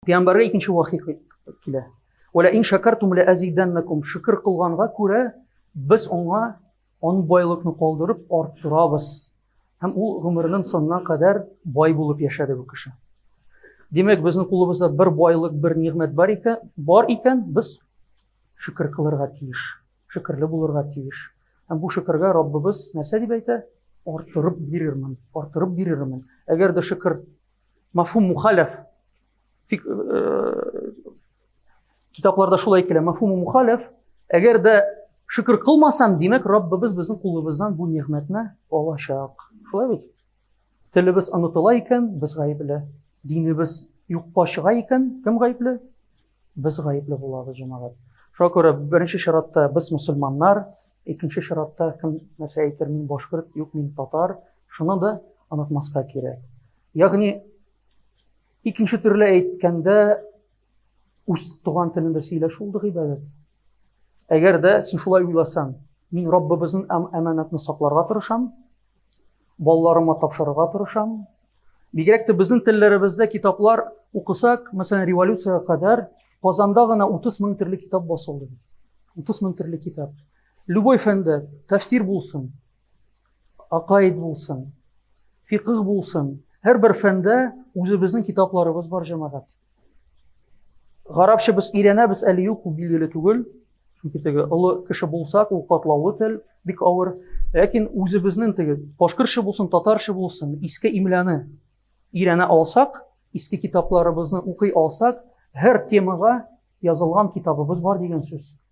Пәйгамбәргә икенче вахи килә. Вәлә ин шакартум лә әзидәннәкум. Шөкер кылганга күрә без аңа он байлыкны калдырып арттырабыз. Һәм ул гомернең сонына кадәр бай булып яшәде бу кеше. Димәк, безнең кулыбызда бер байлык, бер нигъмәт бар икән, бар икән, без шөкер кылырга тиеш, шөкерле булырга тиеш. Һәм бу шөкергә Раббыбыз нәрсә дип әйтә? Арттырып бирермен, арттырып бирермен. Әгәр дә шөкер Мафум мухаләф. Фик, э, китапларда шулай әйтелә. Мафум мухаләф. Әгәр дә шөкер кылмасам, димәк, Раббыбыз безнең кулыбыздан бу нигъмәтне алачак. Шулай бит? Телебез онытыла икән, без гаепле. Динебез юкка чыга икән, кем гаепле? Без гаепле булабыз, җәмәгать. Шуңа күрә беренче чиратта без мусульманнар, икенче чиратта кем нәрсә әйтер, мин башкорт, юк, мин татар. Шуны да онытмаска кирәк. Ягъни икенче төрле әйткәндә үз туган телендә сөйләшү ул гыйбадәт. Әгәр дә син шулай уйласаң, мин Раббыбызның әм әманәтне сакларга тырышам, Балаларыма тапшырырга тырышам. Бигрәк тә безнең телләребездә китаплар укысак, мәсәлән, революциягә кадәр Казанда гына 30 мең төрле китап басылды. 30 мең төрле китап. Любой фәндә тәфсир булсын, акаид булсын, фикх булсын, һәрбер фәндә үзебезнең китапларыбыз бар, җәмәгать. Гарапча без өйрәнәбез әле юк, ул билгеле түгел. Чөнки теге олы кеше булсак, ул катлаулы тел, бик авыр. Ләкин үзебезнең теге башкортча булсын, татарча булсын, иске имляны өйрәнә алсак, иске китапларыбызны укый алсак, һәр темага язылган китабыбыз бар дигән сүз.